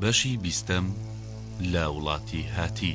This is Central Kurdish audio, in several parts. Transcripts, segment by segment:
بەشی بیستەم لە وڵاتی هاتی.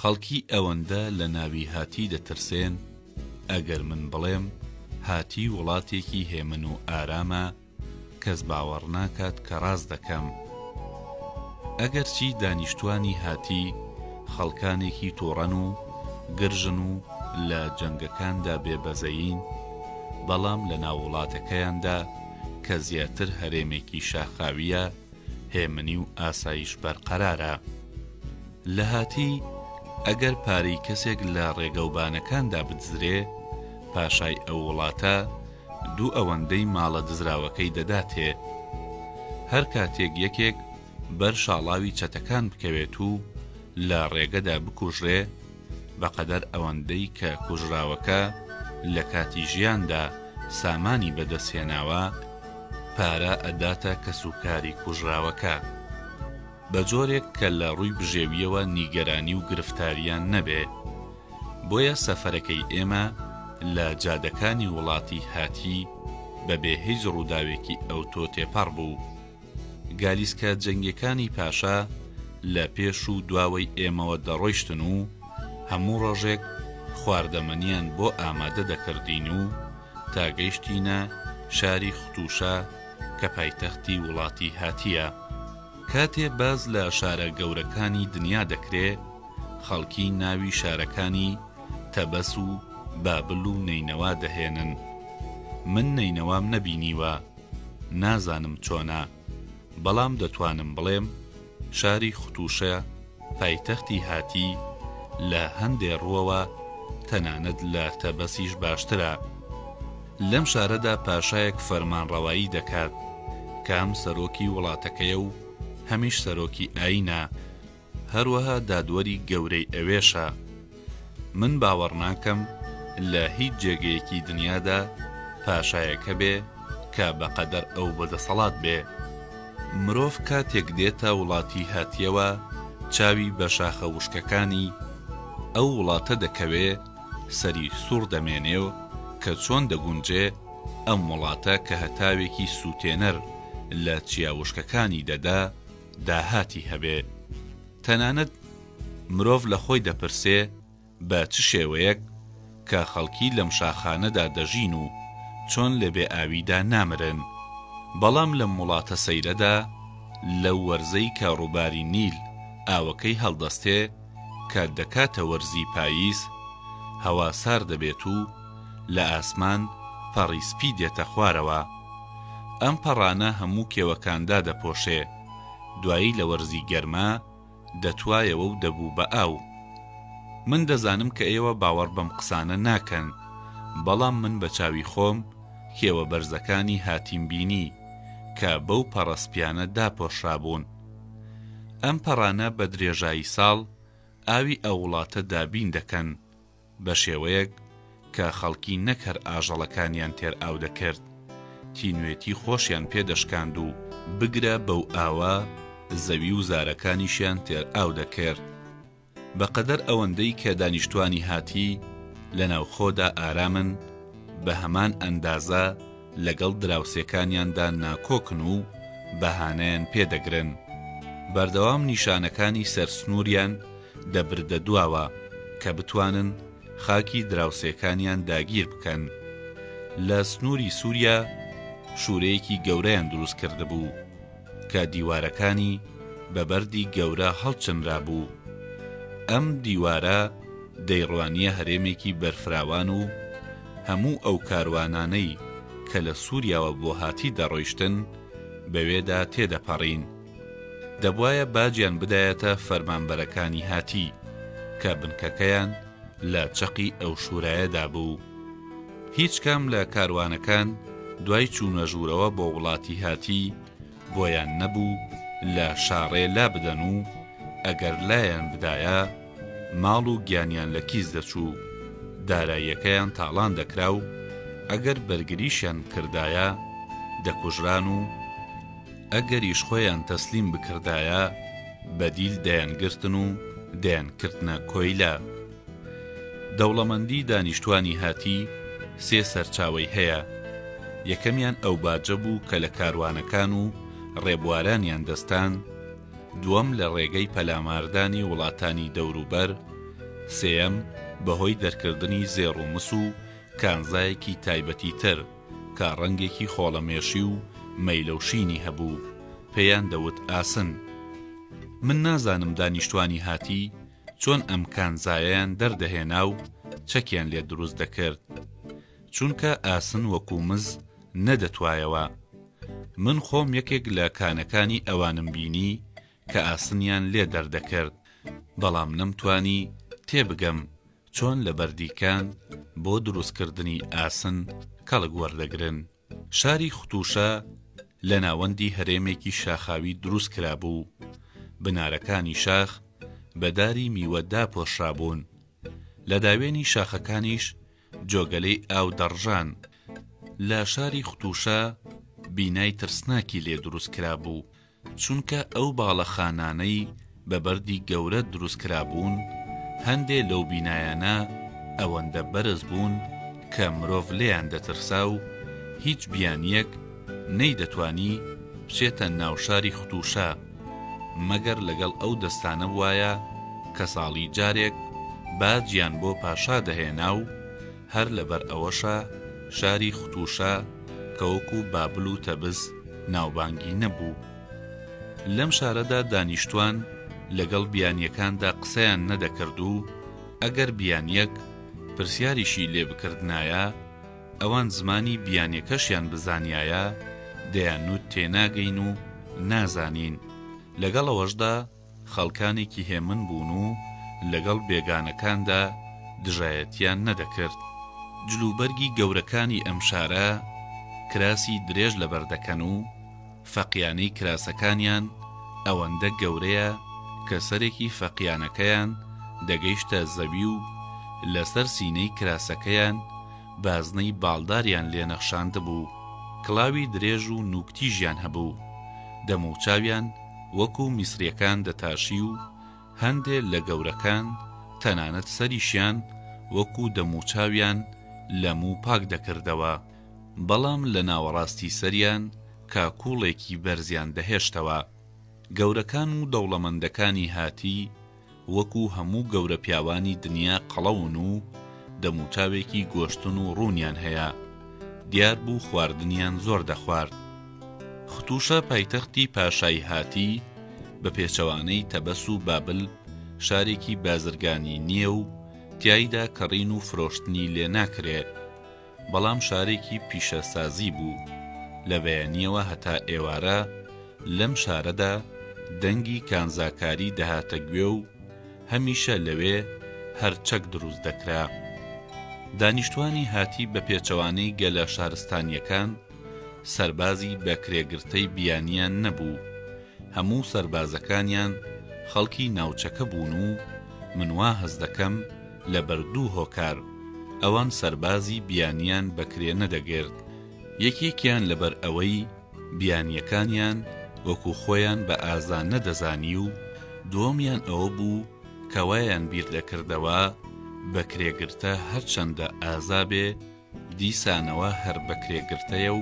خەڵکی ئەوەندە لە ناوی هاتی دەترسێن ئەگەر من بڵێم هاتی وڵاتێکی هێمن و ئارامە کەس باوەڕ ناکات کە ڕاست دەکەم. ئەگەرچی دانیشتوانی هاتی خەڵکانێکی توڕەن و گرژن و لە جەنگەکاندا بێ بەزەیین، بەڵام لە ناو وڵاتەکەیاندا کە زیاتر هەرێمێکی شاخاوییە، هێمنی و ئاسایش بەرقەرارە. لە هاتی، ئەگەر پارەی کەسێک لە ڕێگەوبانەکاندا بدزرێ، پاشای ئەو وڵاتە، دوو ئەوەندەی ماڵە دزراوەکەی دەداتێ. هەر کاتێک یەکێک بەر شاڵاوی چەتەکان بکەوێت و لە ڕێگەدا بکوژرێ، بە قەدەر ئەوەندەی کە کوژراوەکە لە کاتی ژیاندا سامانی بە دەست هێناوە، پارە ئەداتە کەسوکاری کوژراوەکە. بە جۆرێک کە لە ڕووی بژێوییەوە نیگەرانی و گرفتاریان نەبێ. بۆیە سەفەرەکەی ئێمە لە جادەکانی وڵاتی هاتی بە بێ هیچ ڕووداوێکی ئەوتۆ تێپەڕ بوو. گالیسکە جەنگیەکانی پاشا لە پێش و دواوەی ئێمەوە دەڕۆیشتن و هەموو ڕۆژێک خواردەمەنیان بۆ ئامادە دەکردین و تا گەیشتینە شاری ختووشە کە پایتەختی وڵاتی هاتییە. کاتێ باس لە شارە گەورەکانی دنیا دەکرێ، خەڵکی ناوی شارەکانی، تەبەس و بابل و نەینەوا دەهێنن. من نەینەوام نەبینیوە، نازانم چۆنە، بەڵام دەتوانم بڵێم، شاری ختووشە، پایتەختی هاتی، لە هەندێ ڕووەوە تەنانەت لە تەبەسیش باشترە. لەم شارەدا پاشایەک فەرمانڕەوایی دەکات، کام سەرۆکی وڵاتەکەیە و هەمیش سەرۆکی ئایینە، هەروەها دادوەری گەورەی ئەوێشە. من باوەڕناکەم لە هیچ جێگەیەکی دنیادا پاشایەک هەبێ کە بە قەدەر ئەو بە دەسەڵات بێ. مرۆڤ کاتێک دێتە وڵاتی هاتیەوە چاوی بە شاخە وشکەکانی ئەو وڵاتە دەکەوێ سەری سوڕ دەمێنێ و کە چۆن دەگونجێ ئەم وڵاتە کە هەتاوێکی سووتێنەر لە چیا وشکەکانی دەدا داهاتی هەبێ. تەنانەت مرۆڤ لە خۆی دەپرسێ بە چ شێوەیەک کە خەڵکی لەم شاخانەدا دەژین و چۆن لە بێ ئاویدا نامرن؟ بەڵام لەم وڵاتە سەیرەدا لەو وەرزەی کە ڕووباری نیل ئاوەکەی هەڵدەستێ کە دەکاتە وەرزی پاییز هەوا سارد دەبێت و لە ئاسمان پەڕی سپی دێتە خوارەوە ئەم پەڕانە هەموو کێوەکان دادەپۆشێ. دوایی لە وەرزی گەرما دەتوایەوە و دەبوو بە ئاو. من دەزانم کە ئێوە باوەڕ بەم قسانە ناکەن، بەڵام من بە چاوی خۆم کێوە بەرزەکانی هاتیم بینی کە بەو پەڕە سپیانە داپۆشرابوون. ئەم پەڕانە بە درێژایی ساڵ ئاوی ئەو وڵاتە دابین دەکەن. بە شێوەیەک کە خەڵکی نەک هەر ئاژەڵەکانیان تێر ئاو دەکرد، تینوێتی خۆشیان پێ دەشکاند و بگرە بەو ئاوە زەوی و زارەکانیشیان تێر ئاو دەکرد. بە قەدەر ئەوەندەی کە دانیشتوانی هاتی لە ناوخۆدا ئارامن، بە هەمان ئەندازە لەگەڵ دراوسێکانیاندا ناکۆکن و بەهانەیان پێ دەگرن. بەردەوام نیشانەکانی سەر سنووریان دەبردە دواوە کە بتوانن خاکی دراوسێکانیان داگیر بکەن. لە سنووری سووریا شوورەیەکی گەورەیان دروست کردبوو کە دیوارەکانی بە بەردی گەورە هەڵچنرابوو. ئەم دیوارە دەیڕوانییە هەرێمێکی بەرفراوان و هەموو ئەو کاروانانەی کە لە سووریاوە بۆ هاتی دەڕۆیشتن بەوێدا تێدەپەڕین. دەبوایە باجیان بدایەتە فەرمانبەرەکانی هاتی، کە بنکەکەیان لە چەقی ئەو شورایەدا بوو. هیچ کام لە کاروانەکان دوای چوونە ژوورەوە بۆ وڵاتی هاتی، بۆیان نەبوو لە شاڕێ لابدەن و ئەگەر لایان بدایە، ماڵ و گیانیان لە کیس دەچوو، داراییەکەیان تاڵان دەکرا و ئەگەر بەرگریشیان کردایە، دەکوژران و. ئەگەریش خۆیان تەسلیم بکردایە بەدیل دەیانگرتن و دەیانکردنە کۆیلە. دەوڵەمەندی دانیشتوانی هاتی سێ سەرچاوەی هەیە، یەکەمیان ئەو باجە بوو کە لە کاروانەکان و ڕێبوارانیان دەستان، دووەم لە ڕێگەی پەلاماردانی وڵاتانی دەوروبەر، سێیەم بەهۆی دەرکردنی زێڕ و مس و کانزایەکی تایبەتی تر. کە ڕەنگێکی خۆڵەمێشی و مەیلەو شینی هەبوو پێیان دەوت ئاسن من نازانم دانیشتوانی هاتی چۆن ئەم کانزایەیان دەردەهێنا و چەکیان لێ دروست دەکرد چونکە ئاسن وەکو مز نەدەتوایەوە من خۆم یەکێک لە کانەکانی ئەوانم بینی کە ئاسنیان لێ دەردەکرد بەڵام نەمتانی تێبگەم چۆن لە بەردیکان بۆ دروستکردنی ئاسن کەڵک وەردەگرن. شاری ختوشە لە ناوەندی هەرێمێکی شاخاوی دروست کرابوو، بنارەکانی شاخ بە داری میوە داپۆشرابوون، لە داوێنی شاخەکانیش جۆگەلەی ئاو دەڕژان، لە شاری ختوشە بینای ترسناکی لێ دروست کرابوو، چونکە ئەو باڵەخانانەی بە بەردی گەورە دروست کرابوون، هەندێ لەو بینایانە ئەوەندە بەرز بوون کە مرۆڤ لێیان دەترسا و هیچ بیانییەک نەیدەتوانی بچێتە ناو شاری ختووشا، مەگەر لەگەڵ ئەو دەستانە بوایە کە ساڵی جارێک باجیان بۆ پاشا دەهێنا و، هەر لەبەر ئەوەشە شاری ختووشە کە وەکوو بابل و تەبز ناوبانگی نەبوو. لەم شارەدا دانیشتوان لەگەڵ بیانییەکاندا قسەیان نەدەکرد و ئەگەر بیانییەک پرسیاریشی لێ بکردنایە، ئەوان زمانی بیانییەکەشیان بزانیایە، دەیانوت تێناگەین و نازانین، لەگەڵ ئەوەشدا، خەڵکانێکی هێمن بوون و لەگەڵ بێگانەکاندا دژایەتییان نەدەکرد. جلوبەرگی گەورەکانی ئەم شارە کراسی درێژ لەبەر دەکەن و فەقیانەی کراسەکانیان ئەوەندە گەورەیە کە سەرێکی فەقیانەکەیان دەگەیشتە زەوی و لەسەر سینەی کراسەکەیان بازنەی باڵداریان لێ نەخشاندبوو. کڵاوی درێژ و نووکتیژیان هەبوو. دەموچاویان. وەکو میسریەکان دەتاشی و هەندێ لە گەورەکان تەنانەت سەریشیان وەکو دەموچاویان لە موو پاک دەکردەوە، بەڵام لە ناوەڕاستی سەریان کاکوڵێکی بەرزیان دەهێشتەوە. گەورەکان و دەوڵەمەندەکانی هاتی، وەکو هەموو گەورە پیاوانی دنیا قەڵەون و دەموچاوێکی گۆشتن و ڕوونیان هەیە، دیار بوو خواردنیان زۆر دەخوارد. ختووشە پایتەختی پاشایهاتی، بە پێچەوانەی تەبەس و بابل شارێکی بازرگانی نییە و تیایدا کڕین و فرۆشتنی لێ ناکرێ. بەڵام شارێکی پیشەسازی بوو، لە بەیانییەوە هەتا ئێوارە لەم شارەدا دەنگی کانزاکاری دەهاتە گوێ و هەمیشە لەوێ هەر چەک دروست دەکرا. دانیشتوانی هاتی بە پێچەوانەی گەلە شارستانییەکان، سەربازی بە کرێگرتەی بیانییان نەبوو، هەموو سەربازەکانیان خەڵکی ناوچەکە بوون و من وا هەست دەکەم، لەبەر دوو هۆکار ئەوان سەربازی بیانیان بەکرێ نەدەگرت، یەکێکیان لەبەر ئەوەی بیانیەکانیان وەکو خۆیان بە ئازا نەدەزانی و دووەمیان ئەوە بوو کە وایان بیردەکردەوە بەکرێگرتە هەرچەندە ئازا بێ، دیسانەوە هەر بەکرێگرتەیە و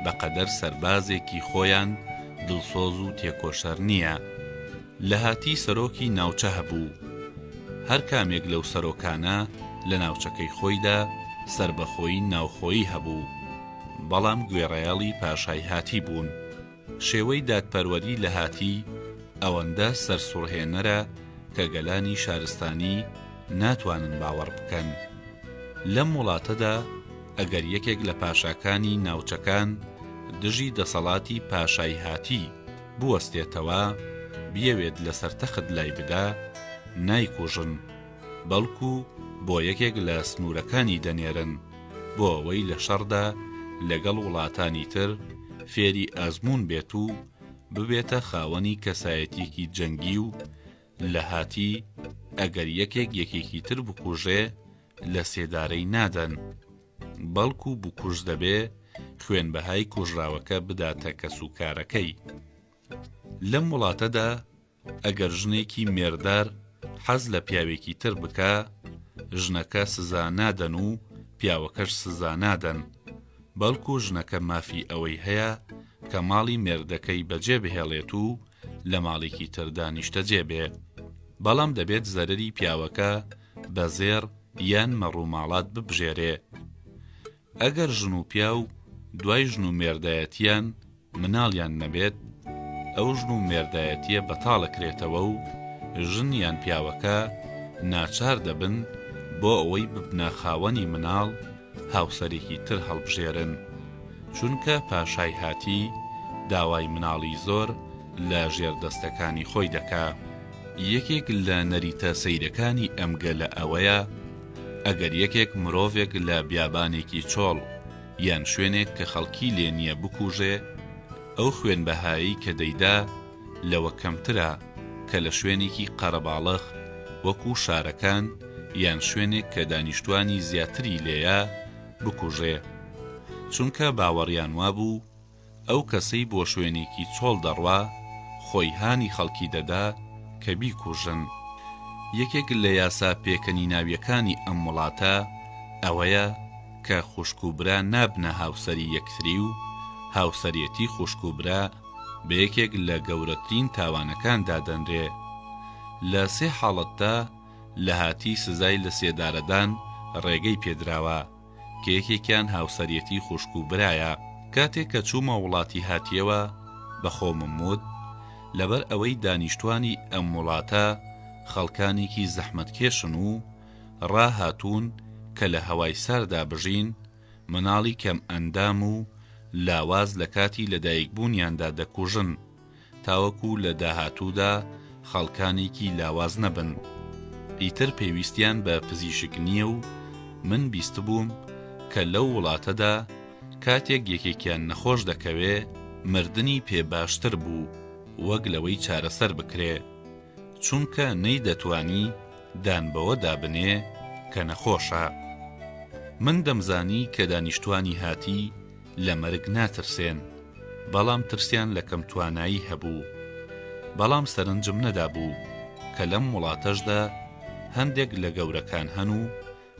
بەقەدەر سەربازێکی خۆیان دڵسۆز و تێکۆشەر نییە. لەهاتی سەرۆکی ناوچە هەبوو. هەر کامێک لەو سەرۆکانە لە ناوچەکەی خۆیدا سەربەخۆیی ناوخۆیی هەبوو. بەڵام گوێڕایەڵی پاشایهاتی بوون. شێوەی دادپەروەری لەهاتی ئەوەندە سەرسوڕهێنەرە کە گەلانی شارستانی ناتوانن باوەڕ بکەن. لەم وڵاتەدا ئەگەر یەکێک لە پاشاکانی ناوچەکان دژی دەسەڵاتی پاشای هاتی بوەستێتەوە، بیەوێت لەسەر تەخت لای بدا، نایکوژن، بەڵکو بۆ یەکێک لە سنوورەکانی دەنێرن. بۆ ئەوەی لە شەڕدا لەگەڵ وڵاتانی تر فێری ئەزموون بێت و ببێتە خاوەنی کەسایەتیەکی جەنگی و لە هاتی ئەگەر یەکێک یەکێکی تر بکوژێ لە سێدارەی نادەن بەڵکو و بکوژ دەبێ خوێن بەهای کوژراوەکە بداتە کەس و کارەکەی لەم وڵاتەدا ئەگەر ژنێکی مێردار حەز لە پیاوێکی تر بکا ژنەکە سزا نادەن و پیاوەکەش سزا نادەن بەڵکو ژنەکە مافی ئەوەی هەیە کە ماڵی مێردەکەی بەجێ بهێڵێت و لە ماڵێکی تردا نیشتەجێ بێ بەڵام دەبێت زەرری پیاوەکە بە زێر یان مەڕووماڵات ببژێرێ ئەگەر ژن و پیاو دوای ژن و مێردایەتیان مناڵیان نەبێت، ئەو ژن و مێردایەتیە بەتاڵەکرێتەوە و ژن یان پیاوەکە ناچار دەبن بۆ ئەوەی ببنە خاوەنی مناڵ هاوسەرێکی تر هەڵبژێرن، چونکە پاشای هاتی داوای مناڵی زۆر لە ژێر دەستەکانی خۆی دەکا. یەکێک لە نەریتە سەیرەکانی ئەم گەلە ئەوەیە ئەگەر یەکێک مرۆڤێک لە بیابانێکی چۆڵ یان شوێنێک کە خەڵکی لێ نییە بکووژێ، ئەو خوێن بەهایەی کە دەیدا لەوە کەمترە کە لە شوێنێکی قەرەباڵغ وەکوو شارەکان یان شوێنێک کە دانیشتووانی زیاتری لێیە بکووژێ، چونکە باوەڕیان وابوو، ئەو کەسەی بۆ شوێنێکی چۆڵ دەڕوا خۆی هانی خەڵکی دەدا کە بیکوژن. یەکێک لە یاسا پێکەنیناویەکانی ئەم وڵاتە ئەوەیە کە خوشک و برا نابنە هاوسەری یەکتری و هاوسەرێتی خوشک و برا بە یەکێک لە گەورەترین تاوانەکان دادەنرێ. لە سێ حاڵەتدا لە هاتی سزای لە سێدارەدان ڕێگەی پێدراوە. کە یەکێکیان هاوسەریەتی خوشک و برایە، کاتێک کە چوومە وڵاتی هاتیەوە بە خۆمم وت لەبەر ئەوەی دانیشتوانی ئەم وڵاتە خەڵکانێکی زەحمەتکێشن و ڕاهاتوون کە لە هەوای ساردا بژین، مناڵی کەم ئەندام و لاواز لە کاتی لەدایکبوونیاندا دەکوژن. تاوەکو لە داهاتوودا خەڵکانێکی لاواز نەبن. ئیتر پێویستیان بە پزیشک نییە و من بیستبووم کە لەو وڵاتەدا کاتێک یەکێکیان نەخۆش دەکەوێ مردنی پێ باشتر بوو وەک لەوەی چارەسەر بکرێ، چونکە نەیدەتوانی دان بەوە دابنێ کە نەخۆشە. من دەمزانی کە دانیشتوانی هاتی، لە مەرگ ناترسێن، بەڵام ترسیان لە کەم توانایی هەبوو. بەڵام سەرنجم نەدابوو کە لەم وڵاتەشدا هەندێک لە گەورەکان هەن و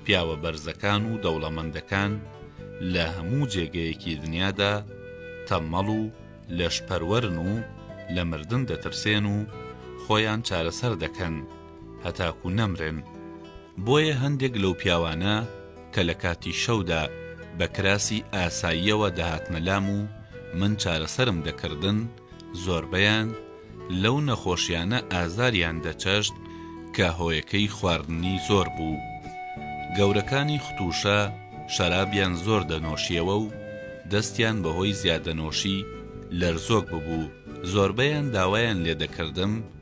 پیاوە بەرزەکان و دەوڵەمەندەکان لە هەموو جێگەیەکی دنیادا تەممەڵ و لەشپەروەرن و لە مردن دەترسێن و خۆیان چارەسەر دەکەن هەتاکوو نەمرن. بۆیە هەندێک لەو پیاوانە کە لە کاتی شەودا بە کراسی ئاساییەوە دەهاتنە لام و من چارەسەرم دەکردن، زۆربەیان لەو نەخۆشیانە ئازاریان دەچەشت کە هۆیەکەی خواردنی زۆر بوو. گەورەکانی ختووشە شەرابیان زۆر دەنۆشیەوە و دەستیان بەهۆی زیادەنۆشی لەرزۆک ببوو، زۆربەیان داوایان لێدەکردم،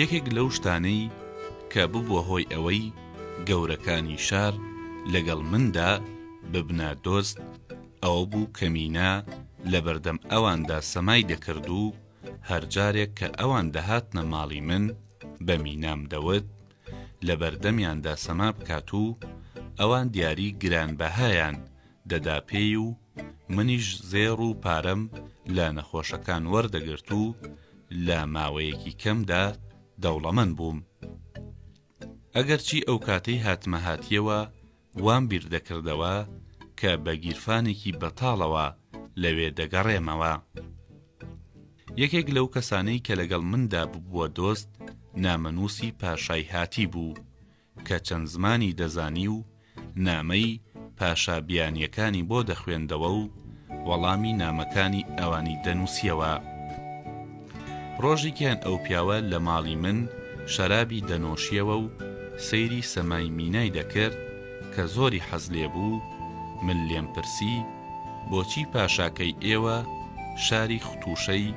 یەکێک لەو شتانەی کە ببووە هۆی ئەوەی گەورەکانی شار لەگەڵ مندا ببنە دۆست ئەوە بوو کە مینا لەبەردەم ئەواندا سەمای دەکرد و هەر جارێک کە ئەوان دەهاتنە ماڵی من بە مینام دەوت لە بەردەمیاندا سەما بکات و ئەوان دیاری گرانبەهایان دەدا پێی و منیش زێڕ و پارەم لە نەخۆشەکان وەردەگرت و لە ماوەیەکی کەمدا دەوڵەمەند بووم. ئەگەرچی ئەو کاتەی هاتمە هاتییەوە وام بیر دەکردەوە کە بە گیرفانێکی بەتاڵەوە لەوێ دەگەڕێمەوە. یەکێک لەو کەسانەی کە لەگەڵ مندا ببووە دۆست، نامەنووسی پاشای هاتی بوو، کە چەند زمانی دەزانی و نامەی پاشا بیانییەکانی بۆ دەخوێندەوە و وەڵامی نامەکانی ئەوانی دەنووسیەوە. ڕۆژیکیان ئەو پیاوە لە ماڵی من شەرابی دەنۆشیەوە و سەیری سەمای مینای دەکرد کە زۆری حەز لێ بوو، من لێم پرسی، بۆچی پاشاکەی ئێوە شاری ختووشەی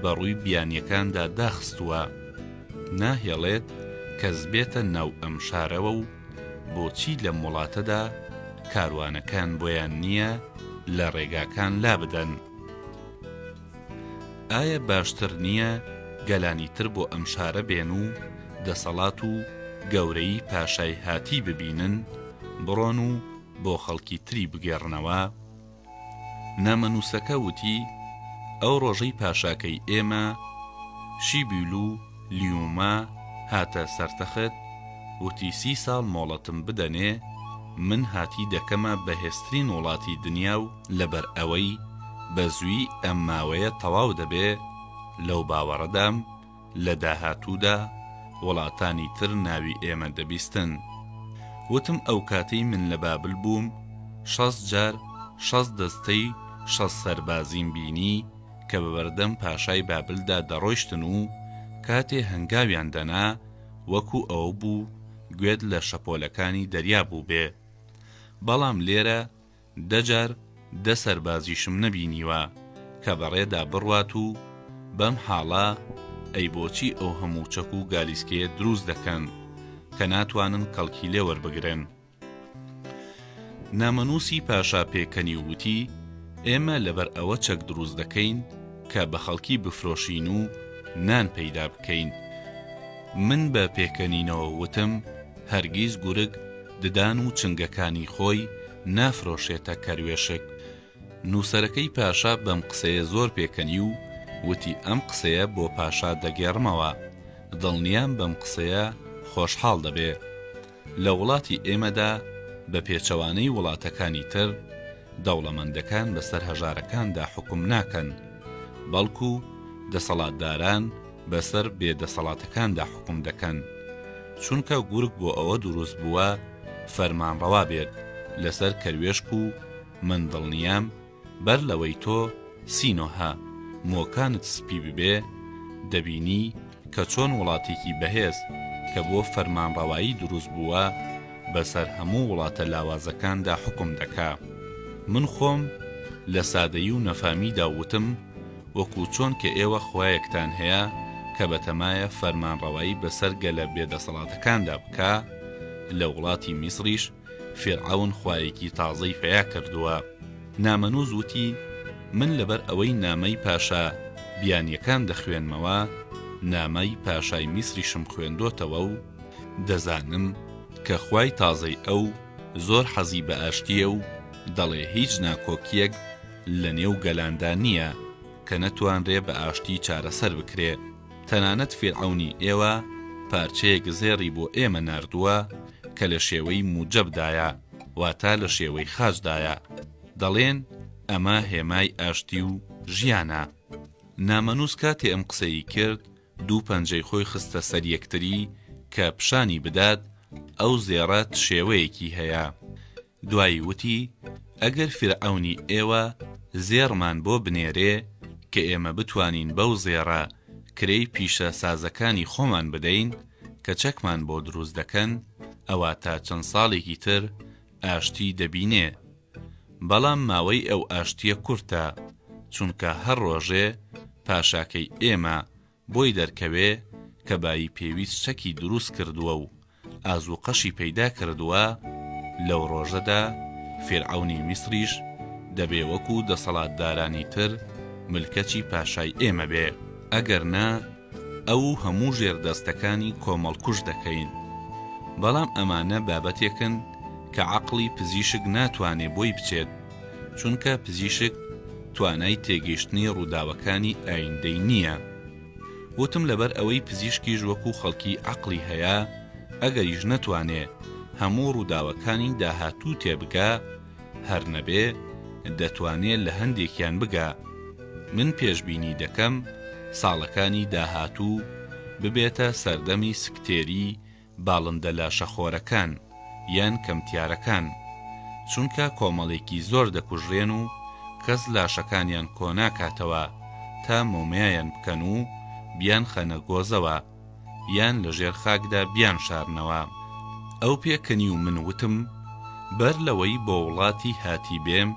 بە ڕووی بیانییەکاندا داخستووە؟ ناهێڵێت کەس بێتە ناو ئەم شارەوە و بۆچی لەم وڵاتەدا کاروانەکان بۆیان نییە لە ڕێگاکان لابدەن؟ ئایا باشتر نییە گەلانی تر بۆ ئەم شارە بێن و دەسەڵات و گەورەی پاشای هاتی ببینن، بڕۆن و بۆ خەڵکی تری بگێڕنەوە؟ نامەنووسەکە وتی، ئەو ڕۆژەی پاشاکەی ئێمە، شیبیلو لیوما، هاتە سەر تەخت، وتی سی ساڵ مۆڵەتم بدەنێ، من هاتی دەکەمە بەهێزترین وڵاتی دنیا و، لەبەرئەوەی بەزوویی ئەم ماوەیە تەواو دەبێ، لەو باوەڕەدام، لە داهاتوودا وڵاتانی تر ناوی ئێمە دەبیستن. وتم ئەوکاتەی من لە بابل بووم شەست جار شەست دەستەی شەست سەربازیم بینی کە بە بەردەم پاشای بابلدا دەڕۆیشتن و کاتێ هەنگاویان دەنا وەکو ئەوە بوو گوێت لە شەپۆلەکانی دەریا بووبێ. بەڵام لێرە دە جار دە سەربازیشم نەبینیوە کە بەڕێدا بڕوات و بەم حاڵە ئەی بۆچی ئەو هەموو چەک و گالیسکەیە دروست دەکەن کە ناتوانن کەڵکی لێ وەربگرن؟ نامەنووسی پاشا پێکەنی و وتی، ئێمە لەبەر ئەوە چەک دروست دەکەین کە بە خەڵکی بفرۆشین و نان پەیدا بکەین. من بە پێکەنینەوە وتم، هەرگیز گورگ ددان و چنگەکانی خۆی نافرۆشێتە کەروێشک. نووسەرەکەی پاشا بەم قسەیە زۆر پێکەنی و وتی ئەم قسەیە بۆ پاشا دەگێڕمەوە، دڵنیام بەم قسەیە خۆشحاڵ دەبێ. لە وڵاتی ئێمەدا بە پێچەوانەی وڵاتەکانی تر، دەوڵەمەندەکان بەسەر هەژارەکاندا حوکم ناکەن، بەڵکوو دەسەڵاتداران، بەسەر بێ دەسەڵاتەکاندا حوکم دەکەن چونکە گورگ بۆ ئەوە دروست بووە فەرمانڕەوا بێت لەسەر کەروێشک و من دڵنیام بەر لەوەی تۆ سینۆهە مۆکانت سپی ببێ دەبینی کە چۆن وڵاتێکی بەهێز کە بۆ فەرمانڕەوایی دروست بووە بەسەر هەموو وڵاتە لاوازەکاندا حکم دەکا من خۆم لە سادەی و نەفامیدا وتم وەکو چۆن کە ئێوە خوایەکتان هەیە کە بەتەمایە فەرمانڕەوایی بەسەر گەلە بێ دەسەڵاتەکاندا بکا، لە وڵاتی میسریش فیرعەون خوایەکی تازەی پەیا کردووە. نامەنووس وتی، من لەبەر ئەوەی نامەی پاشا بیانییەکان دەخوێنمەوە، نامەی پاشای میسریشم خوێندۆتەوە و دەزانم کە خوای تازەی ئەو زۆر حەزی بە ئاشتییە و دەڵێ هیچ ناکۆکییەک، لە نێو گەلاندا نییە کە نەتوانرێ بە ئاشتی چارەسەر بکرێ، تەنانەت فیرعەونی ئێوە پارچەیەک زێڕی بۆ ئێمە ناردووە کە لە شێوەی موجەب دایە، واتە لە شێوەی خاج دایە، دەڵێن ئەمە هێمای ئاشتی و ژیانە. نامەنووس کاتێ ئەم قسەیی کرد، دوو پەنجەی خۆی خستە سەر یەکتری کە پیشانی بدات ئەو زێڕە چ شێوەیەکی هەیە. دوایی وتی، ئەگەر فیرعەونی ئێوە زێڕمان بۆ بنێرێ کە ئێمە بتوانین بەو زێڕە کرێی پیشە سازەکانی خۆمان بدەین کە چەکمان بۆ دروست دەکەن ئەوا تا چەند ساڵێکی تر ئاشتی دەبینێ بەڵام ماوەی ئەو ئاشتیە کورتە چونکە هەر ڕۆژێ پاشاکەی ئێمە بۆی دەرکەوێ کە بایی پێویست چەکی دروست کردووە و ئازووقەشی پەیدا کردووە، لەو ڕۆژەدا فیرعەونی میسریش دەبێ وەکوو دەسەڵاتدارانی تر ملکەچی پاشای ئێمە بێ، ئەگەر نا ئەو و هەموو ژێردەستەکانی کۆمەڵکوژ دەکەین. بەڵام ئەمانە بابەتێکن کە عەقڵی پزیشک ناتوانێ بۆی بچێت. چونکە پزیشک توانای تێگەیشتنی ڕووداوەکانی ئایندەی نییە وتم لەبەر ئەوەی پزیشکیش وەکو خەڵکی عقلی هەیە ئەگەریش نەتوانێ هەموو ڕووداوەکانی داهاتوو تێبگا هەر نەبێ دەتوانێ لە هەندێکیان بگا من پێشبینی دەکەم ساڵەکانی داهاتوو ببێتە سەردەمی سکتێری باڵندە لاشەخۆرەکان یان کەمتیارەکان، چونکە کۆمەڵێکی زۆر دەکوژرێن و کەس لاشەکانیان کۆناکاتەوە تا مۆمیایان بکەن و بیانخەنە گۆزەوە یان لەژێر خاکدا بیانشارنەوە. ئەو پێکەنی و من وتم، بەر لەوەی بۆ وڵاتی هاتی بێم،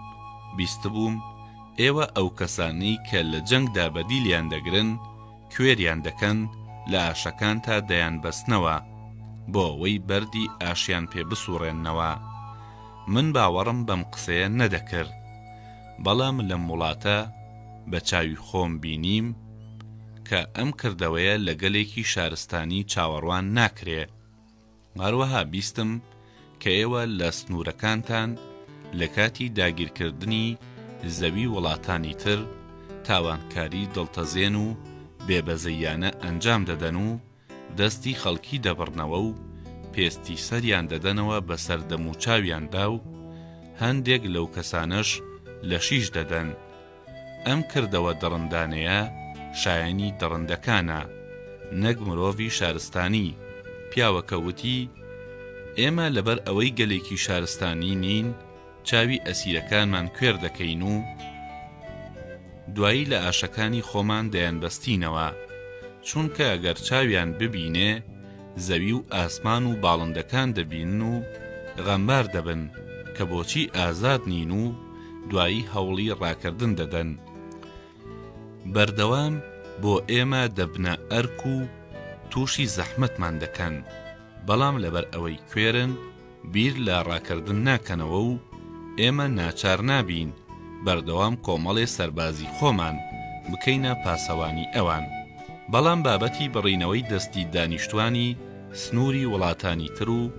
بیستبووم ئێوە ئەو کەسانەی کە لە جەنگدا بەدیلیان دەگرن، کوێریان دەکەن لە ئاشەکان تا دەیانبەستنەوە بۆ ئەوەی بەردی ئاشیان پێ بسوڕێننەوە من باوەڕم بەم قسەیە نەدەکرد بەڵام لەم وڵاتە بە چاوی خۆم بینیم کە ئەم کردەوەیە لە گەلێکی شارستانی چاوەڕوان ناکرێ هەروەها بیستم کە ئێوە لە سنوورەکانتان لە کاتی داگیرکردنی زەوی وڵاتانی تر تاوانکاری دڵتەزێن و بێبەزەییانە ئەنجام دەدەن و دەستی خەڵکی دەبڕنەوە و پێستی سەریان دەدەنەوە بەسەر دەموچاویاندا و هەندێک لەو کەسانەش لەشیش دەدەن، ئەم کردەوە دڕندانەیە شایەنی دڕندەکانە نەک مرۆڤی شارستانی، پیاوەکە وتی، ئێمە لەبەر ئەوەی گەلێکی شارستانی نین چاوی ئەسیرەکانمان کوێر دەکەین و دوایی لە ئاشەکانی خۆمان دەیانبەستینەوە، چونکە گەر چاویان ببینێ، زەوی و ئاسمان و باڵندەکان دەبینن و غەمبار دەبن کە بۆچی ئازاد نین و دوایی هەوڵی ڕاکردن دەدەن. بەردەوام بۆ ئێمە دەبنە ئەرک و تووشی زەحمەتمان دەکەن، بەڵام لەبەر ئەوەی کوێرن، بیر لە ڕاکردن ناکەنەوە و ئێمە ناچار نابین بەردەوام کۆمەڵێ سەربازی خۆمان بکەینە پاسەوانی ئەوان، بەڵام بابەتی بڕینەوەی دەستی دانیشتوانی سنووری وڵاتانی تر و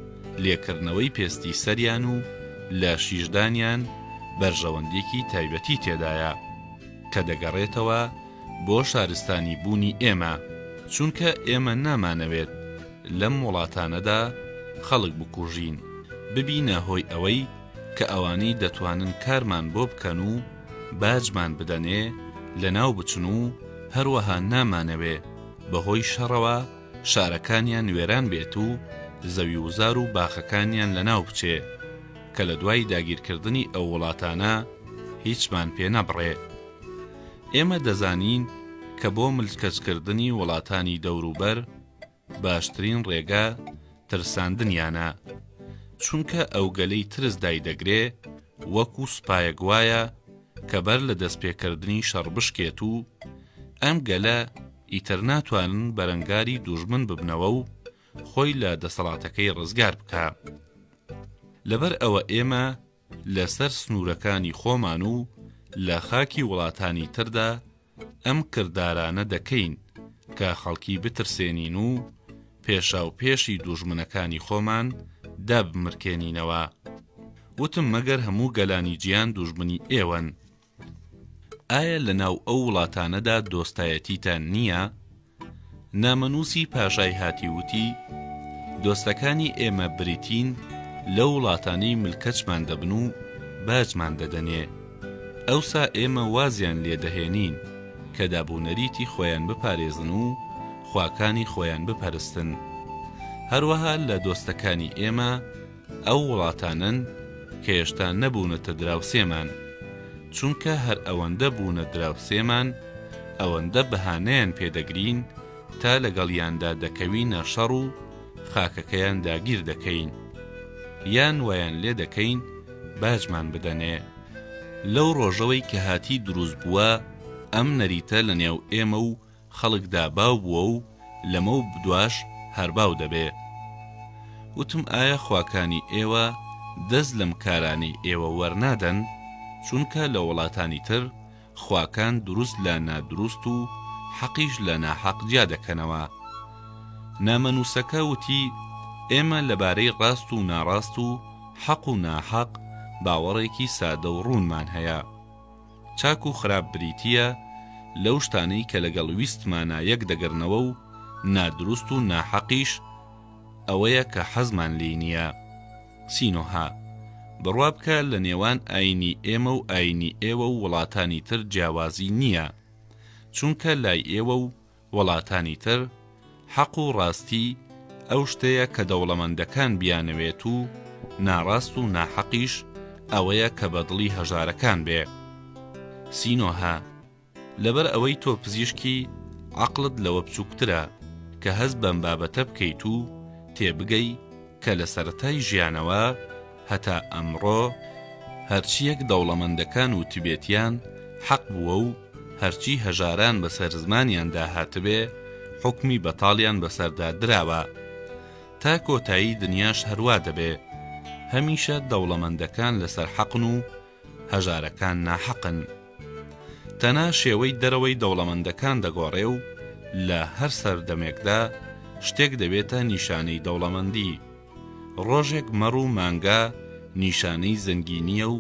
لێکردنەوەی پێستی سەریان و لە شیشدانیان بەرژەوەندێکی تایبەتی تێدایە کە دەگەڕێتەوە بۆ شارستانی بوونی ئێمە، چونکە ئێمە نامانەوێت. لەم وڵاتانەدا خەڵک بکوژین ببینە هۆی ئەوەی کە ئەوانەی دەتوانن کارمان بۆ بکەن و باجمان بدەنێ لەناو بچن و هەروەها نامانەوێ بەهۆی شەڕەوە شارەکانیان وێران بێت و زەوی وزار و باخەکانیان لەناو بچێ کە لە دوای داگیرکردنی ئەو وڵاتانە هیچمان پێ نەبڕێ ئێمە دەزانین کە بۆ ملکەچکردنی وڵاتانی دەوروبەر باشترین ڕێگا ترساندنیانە، چونکە ئەوگەلەی ترس دایدەگرێ وەکو سوپایەک وایە کە بەر لە دەستپێکردنی شەڕ بشکێت و ئەم گەلە ئیتر ناتوانن بەرەنگاری دوژمن ببنەوە و خۆی لە دەسەڵاتەکەی ڕزگار بکە لەبەر ئەوە ئێمە لەسەر سنوورەکانی خۆمان و لە خاکی وڵاتانی تردا ئەم کردارانە دەکەین کە خەڵکی بترسێنین و پێشا و پێشی دوژمنەکانی خۆمان دابمرکێنینەوە وتم مەگەر هەموو گەلانی جیان دوژمنی ئێوەن ئایا لە ناو ئەو وڵاتانەدا دۆستایەتیتان نییە؟ نامەنووسی پاشای هاتی وتی، دۆستەکانی ئێمە بریتین لەو وڵاتانەی ملکەچمان دەبن و باجمان دەدەنێ، ئەوسا ئێمە وازیان لێ دەهێنین کە دابونەریتی خۆیان بپارێزن و خواکانی خۆیان بپەرستن. هەروەها لە دۆستەکانی ئێمە، ئەو وڵاتانەن کە هێشتا نەبوونەتە دراوسێمان، چونکە هەر ئەوەندە بوونە دراوسێمان، ئەوەندە بەهانەیان پێ دەگرین تا لەگەڵیاندا دەکەوینە شەڕ و خاکەکەیان داگیر دەکەین، یان وایان لێ دەکەین باجمان بدەنێ. لەو ڕۆژەوەی کە هاتی دروست بووە، ئەم نەریتە لەنێو ئێمە و خەڵکدا باو بووە و لەمەو بدواش هەر باو دەبێ. وتم ئایا خواکانی ئێوە دەست لەم کارانەی ئێوە وەرنادەن؟ چونکە لە وڵاتانی تر خواکان دروست لە نادروست و حەقیش لە ناحەق جیا دەکەنەوە. نامەنووسەکە وتی ئێمە لەبارەی ڕاست و ناڕاست و حەق و ناحەق باوەڕێکی سادە و ڕوونمان هەیە. چاک و خراپ بریتییە لەو شتانەی کە لەگەڵ ویستمانا یەک دەگرنەوە و نادروست و ناحەقیش ئەوەیە کە حەزمان لێی نییە. سینۆها، بڕوا بکە لە نێوان ئایینی ئێمە و ئایینی ئێوە و وڵاتانی تر جیاوازی نییە، چونکە لای ئێوە و وڵاتانی تر، حەق و ڕاستی ئەو شتەیە کە دەوڵەمەندەکان بیانەوێت و ناڕاست و ناحەقیش ئەوەیە کە بە دڵی هەژارەکان بێ. سینۆهە، لەبەر ئەوەی تۆ پزیشکی، عەقڵت لەوە بچووکترە کە هەست بەم بابەتە بکەیت و تێبگەی کە لە سەرەتای ژیانەوە، هەتا ئەمڕۆ هەرچییەک دەوڵەمەندەکان وتبێتیان حەق بووە و هەرچی هەژاران بەسەر زمانیاندا هاتبێ حوکمی بەتاڵیان بەسەردا دراوە. تا کۆتایی دنیاش هەروا دەبێ. هەمیشە دەوڵەمەندەکان لەسەر حەقن و هەژارەکان ناحەقن. تەنها شێوەی دەرەوەی دەوڵەمەندەکان دەگۆڕێ و لە هەر سەردەمێکدا شتێک دەبێتە نیشانەی دەوڵەمەندی. ڕۆژێک مەڕ و مانگا نیشانەی زەنگینییە و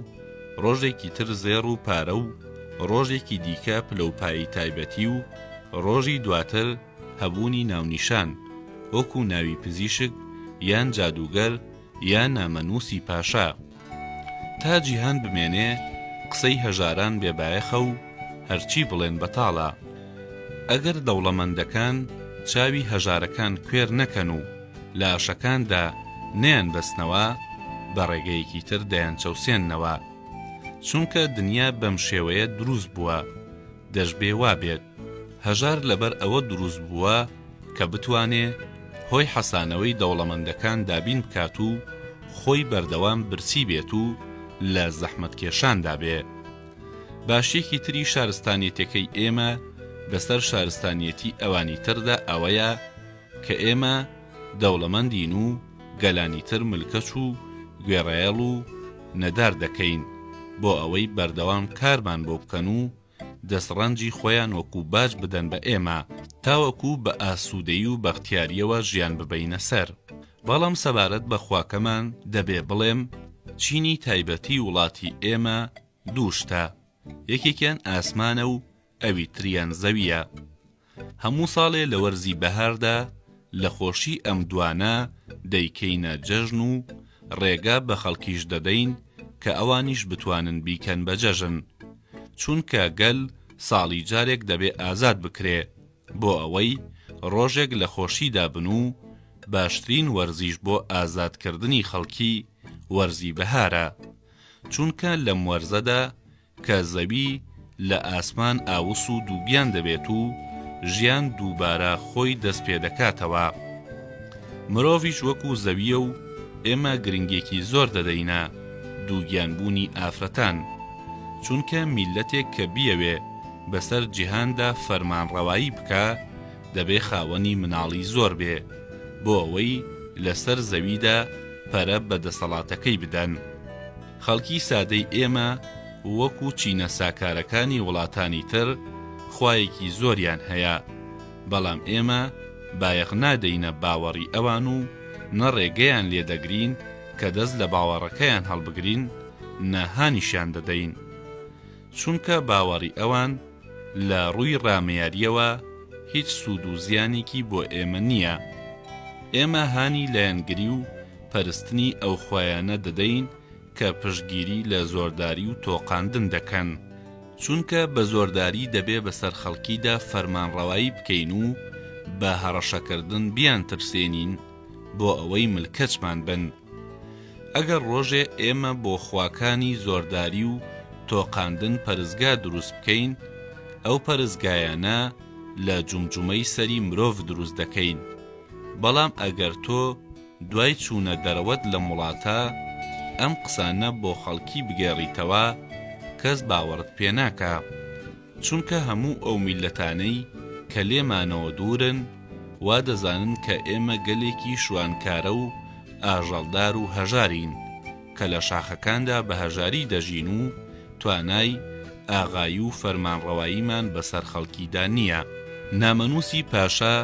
ڕۆژێکی تر زێڕ و پارە و ڕۆژێکی دیکە پلەوپایی تایبەتی و ڕۆژی دواتر هەبوونی ناونیشان وەکوو ناوی پزیشک یان جادووگەر یا نامەنووسی پاشا. تا جیهان بمێنێ قسەی هەژاران بێ بایەخە و هەرچی بڵێن بەتاڵە. ئەگەر دەوڵەمەندەکان چاوی هەژارەکان کوێر نەکەن و لاشەکاندا نەیانبەستنەوە، بە ڕێگەیەکی تر دەیانچەوسێننەوە. چونکە دنیا بەم شێوەیە دروست بووە. دەشبێ وا بێت هەژار لەبەر ئەوە دروست بووە کە بتوانێ هۆی حەسانەوەی دەوڵەمەندەکان دابین بکات و خۆی بەردەوام برسی بێت و لە زەحمەتکێشاندا بێ. باشیەکی تری شارستانیەتەکەی ئێمە بەسەر شارستانیەتی ئەوانی تردا ئەوەیە، کە ئێمە دەوڵەمەندین و گەلانی تر ملکەچ و گوێڕایەڵ و نەدار دەکەین بۆ ئەوەی بەردەوام کارمان بۆ بکەن و دەستڕەنجی خۆیان وەکو باج بدەن بە ئێمە تاوەکو بە ئاسوودەیی و بەختیارییەوە ژیان ببەینە سەر. بەڵام سەبارەت بە خواکەمان دەبێ بڵێم، چینی تایبەتی وڵاتی ئێمە دوو شتە، یەکێکیان ئاسمانە و ئەوی تریان زەوییە. هەموو ساڵێ لە وەرزی بەهاردا لە خۆشی ئەم دوانە دەیکەینە جەژن و ڕێگە بە خەڵکیش دەدەین کە ئەوانیش بتوانن بیکەن بە جەژن. چونکە گەل ساڵی جارێک دەبێ ئازاد بکرێ، بۆ ئەوەی ڕۆژێک لە خۆشیدا بن و باشترین وەرزیش بۆ ئازادکردنی خەڵکی وەرزی بەهارە. چونکە لەم وەرزەدا کە زەوی لە ئاسمان ئاوس و دووگیان دەبێت و ژیان دووبارە خۆی دەست پێ دەکاتەوە. مرۆڤیش وەکو زەویە و ئێمە گرنگێکی زۆر دەدەینە دووگیانبوونی ئافرەتان، چونکە میللەتێک کە بیەوێ بەسەر جیهاندا فەرمانڕەوایی بکا دەبێ خاوەنی مناڵی زۆر بێ بۆ ئەوەی لەسەر زەویدا پەرە بە دەسەڵاتەکەی بدەن. خەڵکی سادەی ئێمە وەکو چینە ساکارەکانی وڵاتانی تر خوایەکی زۆریان هەیە، بەڵام ئێمە بایەخ نادەینە باوەڕی ئەوان و نە ڕێگەیان لێ دەگرین کە دەست لە باوەڕەکەیان هەڵبگرین نە هانیشیان دەدەین. چونکە باوەڕی ئەوان لە ڕووی ڕامیارییەوە هیچ سوود و زیانێکی بۆ ئێمە نییە. ئێمە هانی لایەنگری و پەرستنی ئەو خوایانە دەدەین کە پشتگیری لە زۆرداری و تۆقاندن دەکەن، چونکە بە زۆرداری دەبێ بەسەر خەڵکیدا فەرمانڕەوایی بکەین و بە هەڕەشەکردن بیانترسێنین بۆ ئەوەی ملکەچمان بن. ئەگەر ڕۆژێ ئێمە بۆ خواکانی زۆرداری و تۆقاندن پەرستگا دروست بکەین، ئەو پەرستگایانە لە جومجومەی سەری مرۆڤ دروست دەکەین، بەڵام ئەگەر تۆ، دوای چوونە دەرەوەت لەم وڵاتە ئەم قسانە بۆ خەڵکی بگێڕیتەوە کەس باوەڕت پێ ناکا چونکە هەموو ئەو میللەتانەی کە لێمانەوە دوورن وا دەزانن کە ئێمە گەلێکی شوانکارە و ئاژەڵدار و هەژارین کە لە شاخەکاندا بە هەژاری دەژین و توانای ئاغایی و فەرمانڕەواییمان بەسەر خەڵکیدا نییە. نامەنووسی پاشا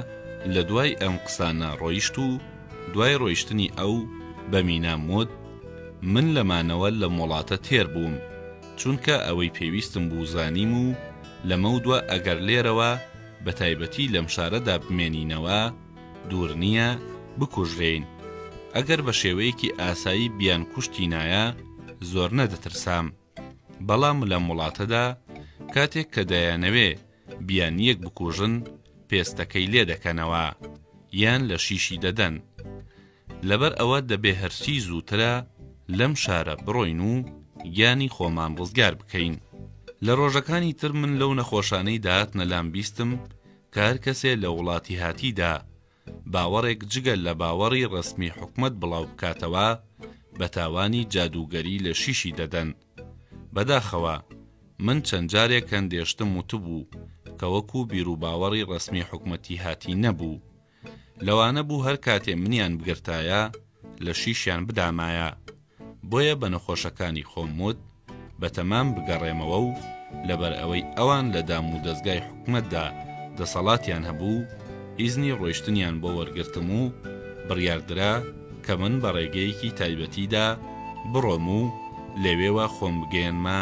لە دوای ئەم قسانە ڕۆیشت و دوای ڕۆیشتنی ئەو بە مینام وت، من لە مانەوە لەم وڵاتە تێر بووم، چونکە ئەوەی پێویستم بوو زانیم و لەمەودوا ئەگەر لێرەوە بە تایبەتی لەم شارەدا بمێنینەوە، دوور نییە بکوژرێین، ئەگەر بە شێوەیەکی ئاسایی بیان کوشتینایە زۆر نەدەترسام، بەڵام لەم وڵاتەدا کاتێک کە دەیانەوێ بیان یەک بکوژن پێستەکەی لێ دەکەنەوە یان لە شیشی دەدەن، لەبەر ئەوە دەبێ هەرچی زووترە لەم شارە بڕۆین و گیانی خۆمان ڕزگار بکەین. لە ڕۆژەکانی تر من لەو نەخۆشانەی دەهاتنە لام بیستم، کە هەر کەسێ لە وڵاتیهاتیدا باوەڕێک جگە لە باوەڕی ڕەسمی حکومەت بڵاو بکاتەوە بە تاوانی جادووگەری لە شیشی دەدەن. بەداخەوە من چەند جارێک هەندێشتم وتبوو کە وەکوو بیروباوەڕی ڕەسمی حکومەتیهاتی نەبوو لەوانە بوو هەر کاتێ منیان بگرتایە لە شیشیان بدامایە، بۆیە بە نەخۆشەکانی خۆم وت بە تەمام بگەڕێمەوە و لەبەر ئەوەی ئەوان لە دام و دەزگای حکومەتدا دەسەڵاتیان هەبوو، ئیزنی ڕۆیشتنیان بۆ وەرگرتم و بڕیار درا کە من بە ڕێگەیەکی تایبەتیدا بڕۆم و لەوێوە خۆم بگەیەنمە.